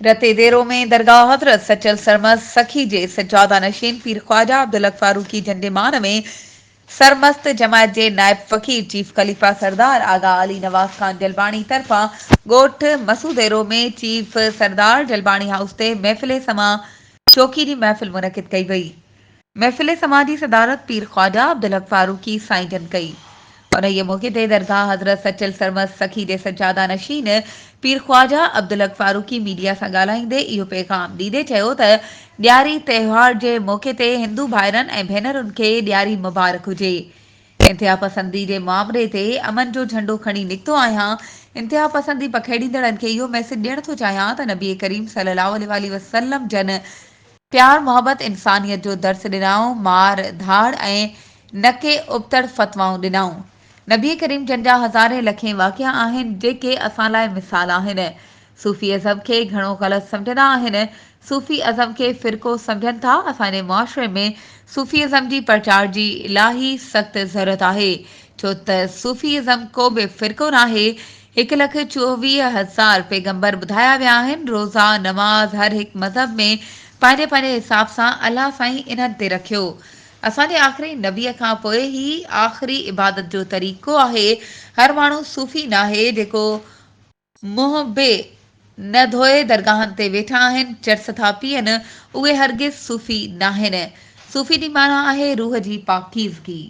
رتي ديرو ۾ درگاهه حضرت سچل سرمست سخي جي سجاده نشين پير خواجه عبدالحق فاروقي جنڊيمان ۾ سرمست جماعت جي نائب فقير چيف خليفه سردار آغا علي نواز خان جلباڻي طرفان ڳوٺ مسوديرو ۾ چيف سردار جلباڻي هائوس تي محفل سماع چوڪي جي محفل منعقد ڪئي وئي محفل سماع جي صدارت پير خواجه عبدالحق فاروقي سائين جن ڪئي. انهيء موقعي تي درگاهه حضرت سچل سرمست سخي جي سجاده نشين پير خواجه عبدالحق فاروقي ميڊيا سان ڳالهائيندي اهو پيغام ڏيندي چيو ته ڏياري تهوار جي موقعي تي هندو ڀائرن ۽ ڀينرن کي ڏياري مبارڪ هجي انتهاپسندي جي معاملي تي امن جو جهنڊو کڻي نڪتو آهيان انتهاپسندي پکيڙيندڙن کي اهو ميسيج ڏيڻ ٿو چاهيان ته نبي ڪريم صلي الله عليه وآله وسلم جن پيار محبت انسانيت جو درس ڏنائون مار ڌاڙ ۽ نڪي ابتڙ فتوائون ڏنائون نبي ڪريم جن جا هزارين لکين واقعا آهن جيڪي اسان لاء مثال آهن صوفي ازم کي گهڻو غلط سمجهندا آهن صوفي ازم کي فرقو سمجهن ٿا اسان جي معاشري ۾ صوفي ازم جي پرچار جي الاهي سخت ضرورت آهي ڇو ته صوفي ازم ڪو به فرقو ناهي هڪ لک چوويهه هزار پيغمبر ٻڌايا ويا آهن، روزا، نماز هر هڪ مذهب ۾ پنهنجي پنهنجي حساب سان الله سائين انهن تي رکيو. اسان جي آخري نبيء کان پوء هي آخري عبادت جو طريقو آهي، هر ماڻهو صوفي ناهي جيڪو منهن به نه ڌوئي درگاهن تي ويٺا آهن، چرس ٿا پيئن، اهي هرگز صوفي ناهن. صوفي جي معنيٰ آهي روح جي پاڪيزگي.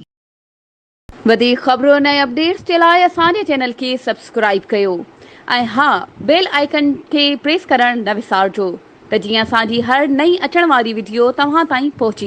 وڌيڪ خبرن ۽ اپڊيٽس جي لاء اسان جي چينل کي سبسڪرائيب ڪيو ۽ ها بيل آئيڪن کي پريس ڪرڻ نه وسارجو ته جيئن اسان جي هر نئين اچڻ واري وڊيو توهان تائين پهچي